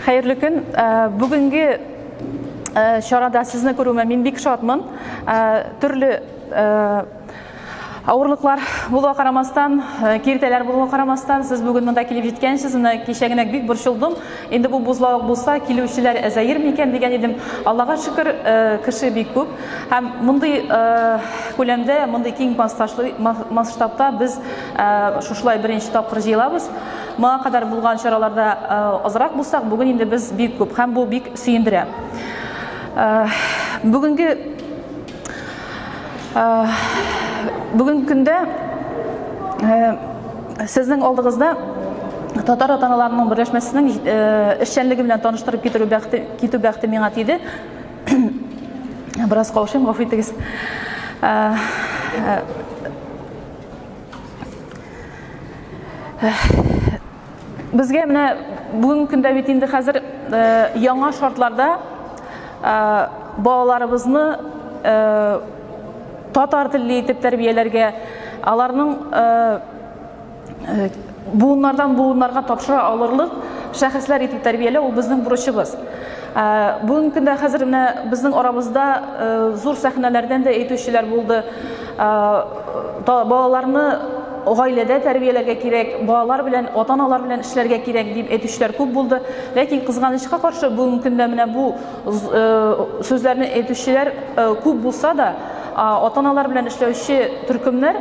Хәерле көн! Бүгенге чарада сезне күрүемә мин бик шатмын. Төрле авырлыклар булуга карамастан, киртәләр булуга карамастан, сез бүген монда килеп җиткәнчез. Менә кичә генә бик борчылдым. Инде бу бозлавык булса, килүчеләр әзәер микән дигән идем. Аллага шөкер, кеше бик күп. Һәм мондый күләмдә, мондый киң масштабта без шушылай беренче тапкыр җыелабыз. Моңа кадәр булган чараларда азрак булсак, бүген инде без бик күп һәм бу бик сөендерә. Бүгенге бүгенге көндә сезнең алдыгызда татар атаналарының берләшмәсенең эшчәнлеге белән таныштырып китерү бәхте китү бәхте миңа тиде. Бераз каушыйм, гафу итегез. Безгә менә бүгенге көндә бит инде хәзер яңа шартларда балаларыбызны татар телле итеп тәрбияләргә, аларның буыннардан буыннарга тапшыра алырлык шәхесләр итеп тәрбияләү ул безнең бурычыбыз. Ә, бүгенге көндә хәзер менә безнең арабызда ә, зур сәхнәләрдән дә әйтүчеләр булды. Ә, та, балаларны гаиләдә тәрбияләргә кирәк, балалар белән, ата-аналар белән эшләргә кирәк дип әйтүчеләр күп булды. Ләкин кызганычка каршы бүгенге көндә менә бу ә, сүзләрне әйтүчеләр ә, күп булса да, ата-аналар белән эшләүче төркемнәр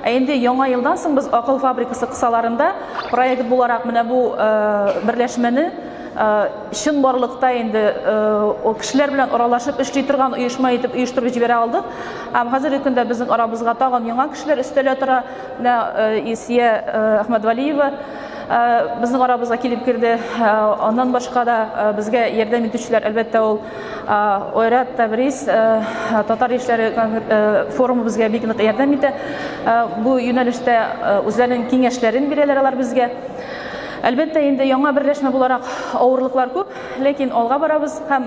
Ә инде Яңа елдан соң без Акыл фабрикасы кысаларында проект буларак менә бу берләшмәне чынбарлыкта инде кешеләр белән аралашып эшли торган оешма итеп оештырып җибәрә алдык. Һәм хәзерге көндә безнең арабызга тагын яңа кешеләр өстәлә тора. Менә Илсия Әхмәдвәлиева Э, безнең арабызга килеп керде. Э, аннан башка да э, безгә ярдәм итүчеләр, әлбәттә, ул Ойрат Табрис татар яшьләре форумы безгә бик нык ярдәм итә. Бу юнәлештә үзләренең киңәшләрен бирәләр алар безгә. Әлбәттә, инде яңа берләшмә буларак авырлыклар күп, ләкин алга барабыз һәм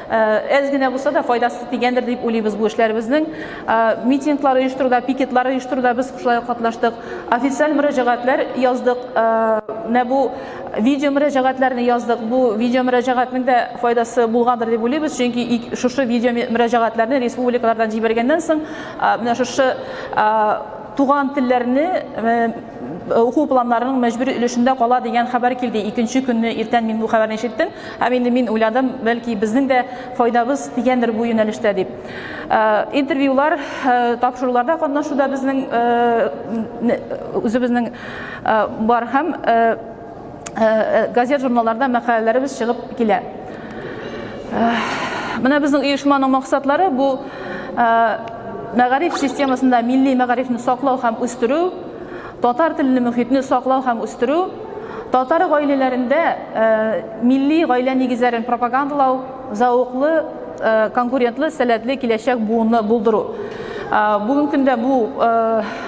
Әз генә булса да файдасы тигәндер дип уйлыйбыз бу эшләребезнең. Митинглар оештыруда, пикетлар оештыруда без шулай ук катнаштык. Официаль мөрәҗәгатьләр яздык. Менә бу видео мөрәҗәгатьләрне яздык. Бу видео мөрәҗәгатьнең дә файдасы булгандыр дип уйлыйбыз, чөнки шушы видео мөрәҗәгатьләрне республикалардан җибәргәннән соң, менә шушы туган телләрне уку планнарының мәҗбүри өлешендә кала дигән хәбәр килде. Икенче көнне иртән мин бу хәбәрне ишеттем. Һәм инде мин уйладым, бәлки безнең дә файдабыз тигәндер бу юнәлештә дип. Э, интервьюлар, э, тапшыруларда катнашуда безнең э, үзебезнең бар һәм газет-журналларда мәкаләләребез чыгып килә. Менә безнең оешманың максатлары бу мәгариф системасында милли мәгарифне саклау һәм үстерү, Татар телле мөхитне саклау һәм үстерү, татар гаиләләрендә милли гаилә нигезләрен пропагандалау, зәвыклы, конкурентлы, сәләтле киләчәк буынны булдыру. Бүгенге көндә бу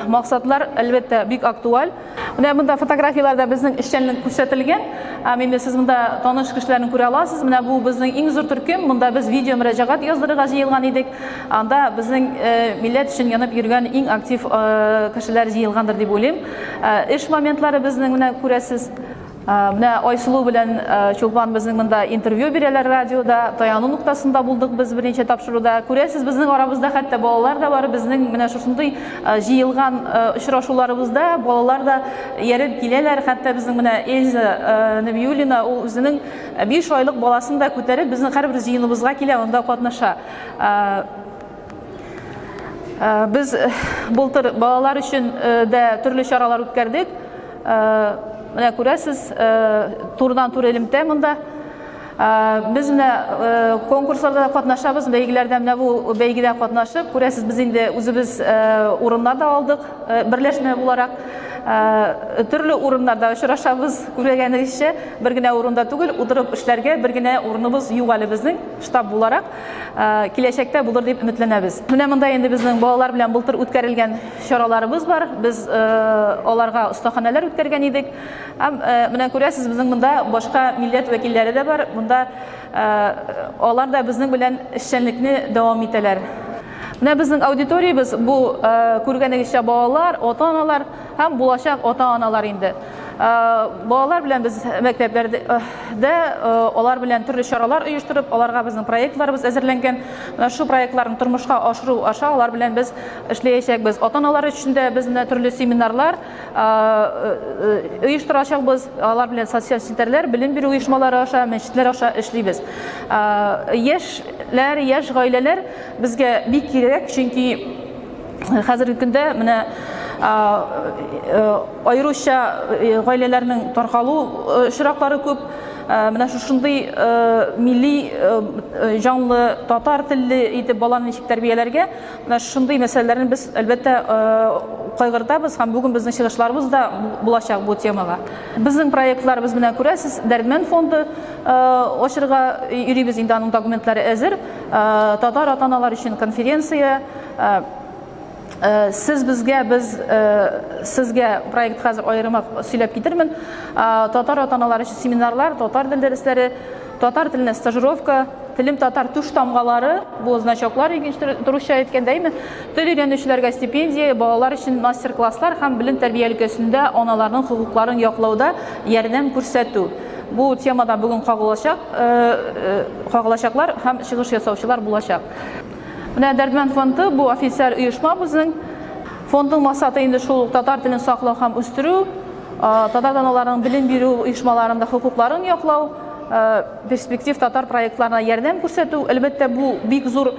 максатлар, әлбәттә, бик актуаль. Менә монда фотографияләрдә безнең эшчәнлек күрсәтелгән. Һәм инде сез монда таныш кешеләрне күрә аласыз. Менә бу безнең иң зур төркем. Монда без видеомөрәҗәгать яздырырга җыелган идек. Анда безнең милләт өчен янып йөргән иң актив кешеләр җыелгандыр дип уйлыйм. Эш моментлары безнең менә күрәсез. Менә Айсылу белән Чулпан безнең монда интервью бирәләр радиода. Таяну ноктасында булдык без берничә тапшыруда. Күрәсез, безнең арабызда хәтта балалар да бар. Безнең менә шушындый җыелган очрашуларыбызда балалар да ияреп киләләр. Хәтта безнең менә Эльза Нәбиуллина, ул үзенең 5 айлык баласын да күтәреп, безнең һәрбер җыеныбызга килә, анда катнаша. Без бултыр балалар өчен дә төрле чаралар үткәрдек. Менә күрәсез, турыдан туры элемтә монда. Без менә конкурсларда катнашабыз, бәйгеләрдә менә бу бәйгедә катнашып, күрәсез, без инде үзебез урыннар да алдык, берләшмә буларак. Төрле урыннарда очрашабыз, күргәнегезчә, бер генә урында түгел, утырып эшләргә бер генә урыныбыз юк әле безнең. штаб буларак киләчәктә булыр дип өметләнәбез. Менә монда инде безнең балалар белән былтыр үткәрелгән чараларыбыз бар. Без аларга остаханәләр үткәргән идек. Һәм менә күрәсез, безнең монда башка милләт вәкилләре дә бар. Монда алар да безнең белән эшчәнлекне дәвам итәләр. Менә безнең аудиториябез бу күргәнегезчә балалар, ата-аналар. һәм булачак ата-аналар инде балалар белән без мәктәпләрдә алар белән төрле чаралар оештырып, аларга безнең проектларыбыз әзерләнгән. Менә шу проектларны тормышка ашыру аша алар белән без эшләячәкбез. Ата-аналар өчен дә без менә төрле семинарлар оештырачакбыз. Алар белән социаль челтәрләр, белем бирү оешмалары аша, мәчетләр аша эшлибез. Яшьләр, яшь гаиләләр безгә бик кирәк, чөнки Хәзерге көндә менә аеруча гаиләләрнең таркалу очраклары күп. Менә шушындый милли җанлы татар телле итеп баланы ничек тәрбияләргә? Менә шушындый мәсьәләләрне без әлбәттә кайгыртабыз һәм бүген безнең чыгышларыбыз да булачак бу темага. Безнең проектларыбыз менә күрәсез, Дәрдмәнд фонды ачырга йөрибез, инде аның документлары әзер. Татар ата-аналар өчен конференция, Э, сез безгә без э, сезгә проект хәзер аерымак сөйләп китермен э, татар ата аналары өчен семинарлар татар тел дәресләре татар теленә стажировка телем татар туш тамгалары бу значоклар турыча әйткәндә әйме тел өйрәнүчеләргә стипендия балалар өчен мастер класслар һәм белем тәрбия өлкәсендә аналарның хокукларын яклауда ярдәм күрсәтү бу темада бүген кагылачак кагылачаклар һәм чыгыш ясаучылар булачак Менә Дәрдмәнд фонды бу официаль оешма безнең. Фондның максаты инде шул ук татар телен саклау һәм үстерү, татар даналарының белем бирү оешмаларында хокукларын яклау, перспектив татар проектларына ярдәм күрсәтү. Әлбәттә, бу бик зур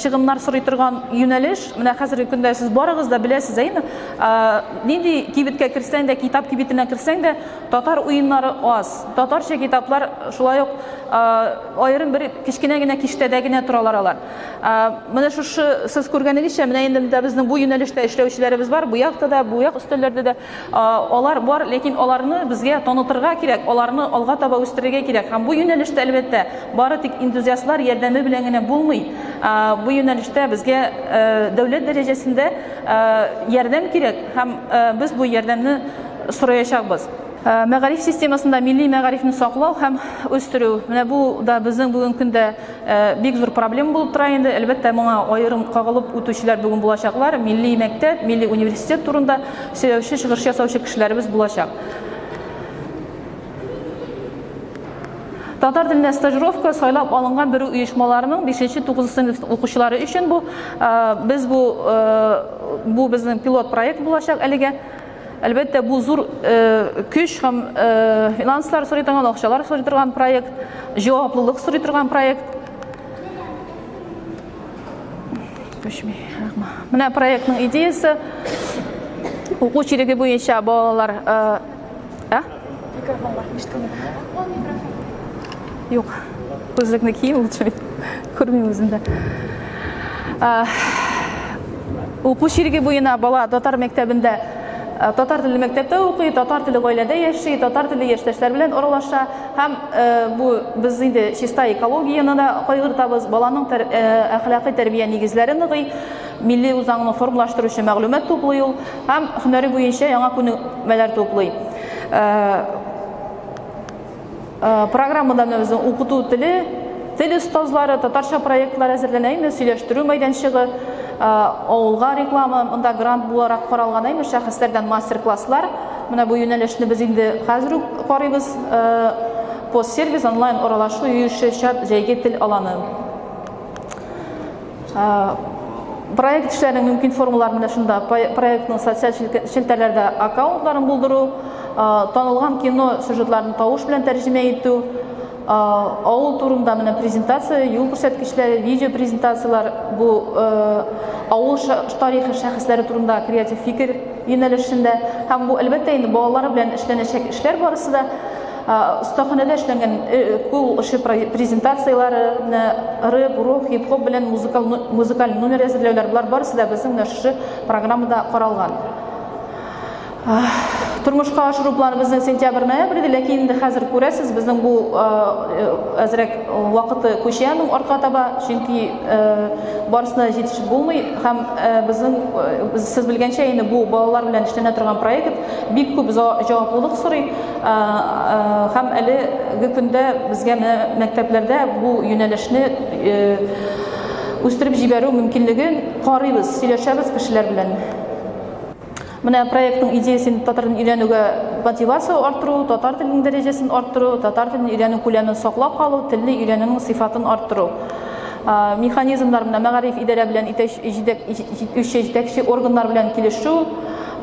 чыгымнар сорый торган юнәлеш. Менә хәзерге көндә сез барыгыз да беләсез, әйеме? Нинди кибеткә керсәң дә, китап кибетенә керсәң дә, татар уеннары аз. Татарча китаплар шулай ук Аерым бер кечкенә генә киштәдә генә торалар алар. Менә шушы сез күргәнегезчә, менә инде дә безнең бу юнәлештә эшләүчеләребез бар, бу якта да, бу як өстәлләрдә дә алар бар, ләкин аларны безгә танытырга кирәк, аларны алга таба үстерергә кирәк. Һәм бу юнәлештә, әлбәттә, бары тик энтузиастлар ярдәме белән генә булмый. Бу юнәлештә безгә дәүләт дәрәҗәсендә ярдәм кирәк һәм без бу ярдәмне сораячакбыз. Ә, мәгариф системасында милли мәгарифне саклау һәм үстерү. Менә бу да безнең бүгенге көндә ә, бик зур проблема булып тора инде. Әлбәттә, моңа аерым кагылып үтүчеләр бүген булачаклар. Милли мәктәп, милли университет турында сөйләүче, чыгыш ясаучы кешеләребез булачак. Татар телендә стажировка сайлап алынган бер оешмаларның 5-нче 9 сыйныф укучылары өчен бу без бу бу безнең пилот проект булачак әлегә. Әлбәттә, бу зур көч һәм финанслар сорый торган, акчалар сорый торган проект, җаваплылык сорый торган проект. Төшми. Менә проектның идеясе. Уку чиреге буенча балалар, ә? Микрофон бар, ишетелми. Ул микрофон. Юк, күзлекне кием лучше, күрмим үземдә. Уку шириге буена бала татар мәктәбендә Э, татар теле мәктәптә укый, татар теле гаиләдә яши, татар теле яшьтәшләр белән аралаша һәм э, бу без инде чиста экологияне дә кайгыртабыз, баланың э, әхлакый тәрбия нигезләре ныгый. милли үзаңны формалаштыручы мәгълүмат туплый ул һәм һөнәре буенча яңа күнекмәләр туплый. Программада безнең укыту теле, тел остазлары, татарча проектлар әзерләнә инде, сөйләштерү мәйданчыгы, авылга реклама, монда грант буларак каралган инде шәхесләрдән мастер-класслар. Менә бу юнәлешне без инде хәзер үк карыйбыз. Постсервис онлайн аралашу, юешле чат, җәйге тел аланы. Проект эшләренең мөмкин формалары менә шунда. Проектның социаль челтәрләрдә аккаунтларын булдыру, танылган кино сюжетларын тавыш белән тәрҗемә итү, авыл турында менә презентация, юл күрсәткечләре, видео презентацияләр, бу авыл тарихи шәхесләре турында креатив фикер юнәлешендә. Һәм бу әлбәттә инде балалар белән эшләнәчәк эшләр барысы да. Остаханәдә эшләнгән кул эше презентацияләре, рэп, рок, хип-хоп белән музыкаль номер әзерләүләр, болар барысы да безнең менә шушы программада каралган. Тормышка ашыру планыбызны сентябрь-ноябрь иде, ләкин инде хәзер күрәсез, безнең бу әзрәк вакыты күчә аның артка таба, чөнки барысына җитешеп булмый һәм безнең сез белгәнчә инде бу балалар белән эшләнә торган проект бик күп җаваплылык сорый. Һәм әлеге көндә безгә менә мәктәпләрдә бу юнәлешне үстереп җибәрү мөмкинлеген карыйбыз, сөйләшәбез кешеләр белән. Менә проектның идеясе инде татар телен өйрәнүгә мотивация арттыру, татар теленең дәрәҗәсен арттыру, татар телен өйрәнү күләмен саклап калу, телне өйрәнүнең сыйфатын арттыру. Механизмнар менә мәгариф идарә белән итәч җитәк җитүче җитәкче органнар белән килешү,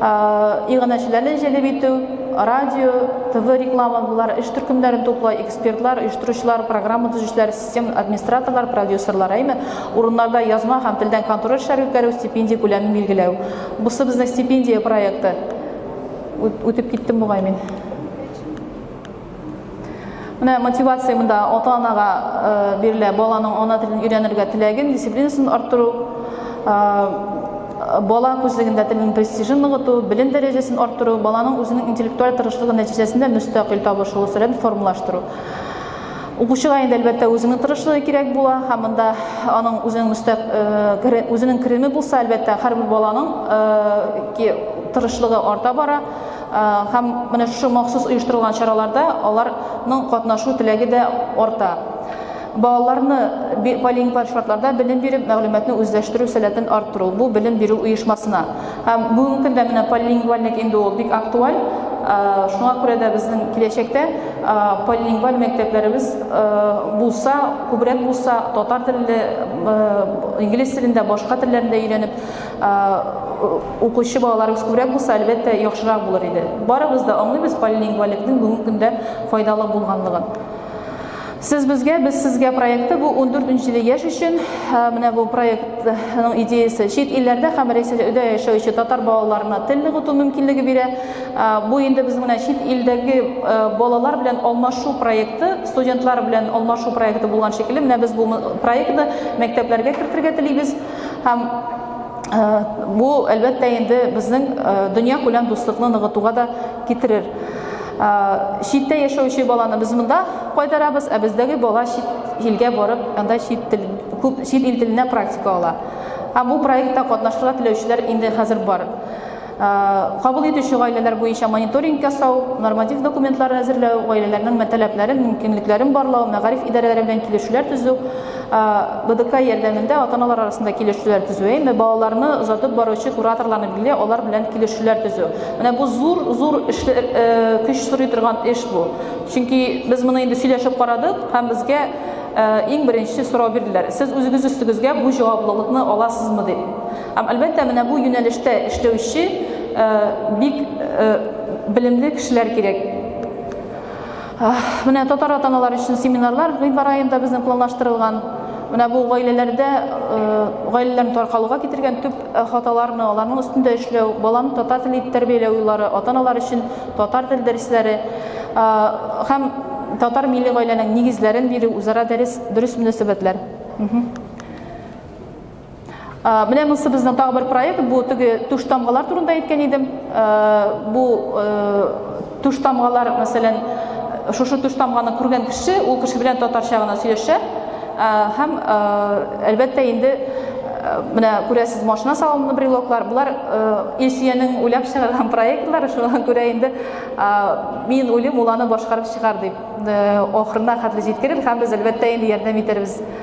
Иганәчеләрне җәлеп итү, радио, ТВ реклама болар эш төркемнәрен туплай, экспертлар, оештыручылар, программа төзүчеләр, систем администраторлар, продюсерлар, әйме, урыннарда язма һәм телдән контроль эшләре үткәрү, стипендия күләмен билгеләү. Бусы безнең стипендия проекты. Үтеп киттем бугай мин. Менә мотивация монда ата-анага э, бирелә, баланың ана телен өйрәнергә теләген, дисциплинасын арттыру, э, бала күзлегендә телнең престижын ныгыту, белем дәрәҗәсен арттыру, баланың үзенең интеллектуаль тырышлыгы нәтиҗәсендә мөстәкыйль табыш өлешләрен формалаштыру. Укучыга инде әлбәттә үзенең тырышлыгы кирәк була, һәм монда аның үзенең мөстәк э, үзенең кереме булса, әлбәттә, һәрбер баланың тырышлыгы арта бара. Һәм менә шушы махсус оештырылган чараларда аларның катнашу теләге дә арта. Балаларны полиингваль шартларда белем биреп, мәгълүматны үзләштерү сәләтен арттыру, бу белем бирү оешмасына. Һәм бүгенге көндә менә полиингвальлек инде ул бик актуаль. Шуңа күрә дә безнең киләчәктә полиингваль мәктәпләребез булса, күбрәк булса, татар телле, инглиз телендә, башка телләрендә өйрәнеп, укучы балаларыбыз күбрәк булса, әлбәттә, яхшырак булыр иде. Барыбыз да аңлыйбыз полилингваликның бүгенге көндә файдалы булганлыгын. Сез безгә, без сезгә проекты бу 14 нче яшь өчен. Менә бу проектның идеясе чит илләрдә һәм Рәсәйдә өйдә яшәүче татар балаларына тел ныгыту мөмкинлеге бирә. Бу инде без менә чит илдәге балалар белән алмашу проекты, студентлар белән алмашу проекты булган шикелле, менә без бу проектны мәктәпләргә кертергә телибез. Һәм бу, әлбәттә, инде безнең дөнья күләм дуслыкны ныгытуга да китерер. Читтә яшәүче баланы без монда кайтарабыз, ә бездәге бала чит илгә барып, анда чит тел, күп чит ил теленә практика ала. Һәм бу проектта катнашырга теләүчеләр инде хәзер бар. Кабул итүче гаиләләр буенча мониторинг ясау, норматив документлар әзерләү, гаиләләрнең мәтәләпләрен, мөмкинлекләрен барлау, мәгариф идарәләре белән килешүләр төзү, БДК ярдәмендә ата-аналар арасында килешүләр төзү, әйме, балаларны озатып баручы кураторларны билгели, алар белән килешүләр төзү. Менә бу зур, зур эшле, көч сорый торган эш бу. Чөнки без моны инде сөйләшеп карадык һәм безгә иң беренче сорау бирделәр, сез үзегез өстегезгә бу җаваплылыкны аласызмы дип. Һәм, әлбәттә, менә бу юнәлештә эшләүче бик белемле кешеләр кирәк. Менә татар атаналар өчен семинарлар гыйнвар аенда безнең планлаштырылган. Менә бу гаиләләрдә гаиләләрне таркалуга китергән төп хаталарны, аларның өстендә эшләү, баланы татар теле итеп тәрбияләү юллары, атаналар өчен татар тел дәресләре һәм татар милли гаиләнең нигезләрен бирү, үзара дәрес, дөрес мөнәсәбәтләр. Менә монысы безнең тагы бер проект, бу теге туш тамгалар турында әйткән идем. Бу туш тамгалар, мәсәлән, шушы туш тамганы күргән кеше, ул кеше белән татарча гына сөйләшә. Һәм әлбәттә инде менә күрәсез машина салонында брелоклар, болар Илсиянең уйлап чыгарган проектлары, шуңа күрә инде мин уйлыйм, ул аны башкарып чыгар дип, ахырына хәтле җиткерер һәм без әлбәттә инде ярдәм итәрбез.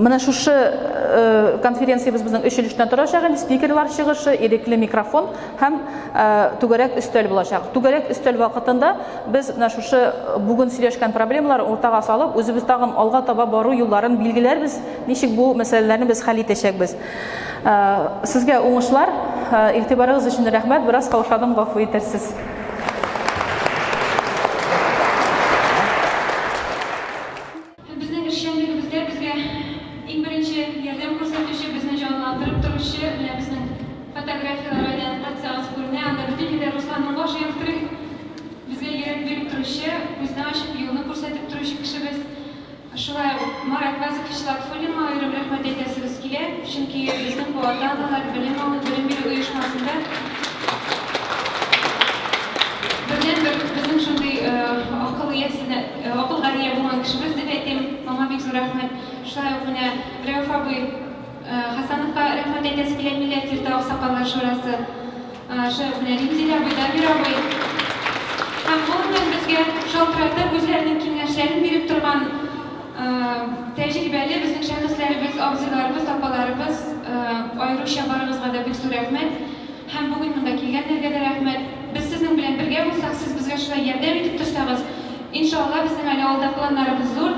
Менә шушы э, конференциябез безнең өч өлештән торачак инде. Спикерлар чыгышы, ирекле микрофон һәм э, түгәрәк өстәл булачак. Түгәрәк өстәл вакытында без менә шушы э, бүген сөйләшкән проблемалар уртага салып, үзебез тагын алга таба бару юлларын билгеләрбез, ничек бу мәсьәләләрне без хәл итәчәкбез. Сезгә уңышлар, игътибарыгыз өчен рәхмәт. Бераз каушадым, гафу итәрсез. Безнең эшчәнлегебездә безгә иң беренче ярдәм күрсәтүче, безне җанландырып торучы менә безнең фотографияләр әйләнеп кайтсагыз күренә, анда бөтен җирдә Русланның башы яктырый. Безгә йөрәк биреп торучы, күзне ачып юлны күрсәтеп торучы кешебез. Шулай ук Марат Вазыкович Латфуллинга аерым рәхмәт әйтәсебез килә, чөнки безнең бу ата-аналар белем алу, белем бирү оешмасында бердәнбер безнең шундый акыл иясенә. Гакыл Галия булган кешебез дип әйтим, аңа бик зур рәхмәт. Шулай ук менә Рәүф абый Хәсәновка рәхмәт әйтәсе килә, милләт йорты аксакаллар шурасы. Шулай ук менә Римзил абый, Дамир абый. Һәм гомумән безгә шалтыратып, үзләренең киңәшләрен биреп торган тәҗрибәле безнең шәхесләребез, абзыйларыбыз, апаларыбыз аеруча барыгызга да бик зур рәхмәт. Һәм бүген монда килгәннәргә дә рәхмәт. Без сезнең белән бергә булсак, сез безгә шулай ярдәм итеп торсагыз, иншалла, безнең әле алда планнарыбыз зур.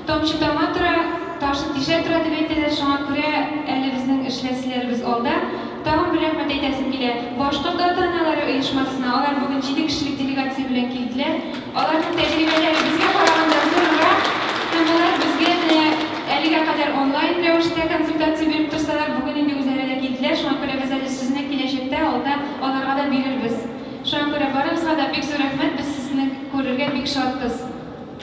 Тамчы тама тора, ташын тишә тора, дип әйтәләр, шуңа күрә әле безнең эшләселәребез алда. Тагын бер рәхмәт әйтәсем килә Башкорт ата-аналары оешмасына, алар бүген җиде кешелек делегация белән килделәр. Аларның тәҗрибәләре безгә караганда зурырак һәм алар безгә менә әлегә кадәр онлайн рәвештә консультация биреп торсалар, бүген инде үзләре дә килделәр, шуңа күрә без әле сезне киләчәктә алда аларга да бирербез. Шуңа күрә барыгызга да бик зур рәхмәт, без сезне күрергә бик шатбыз.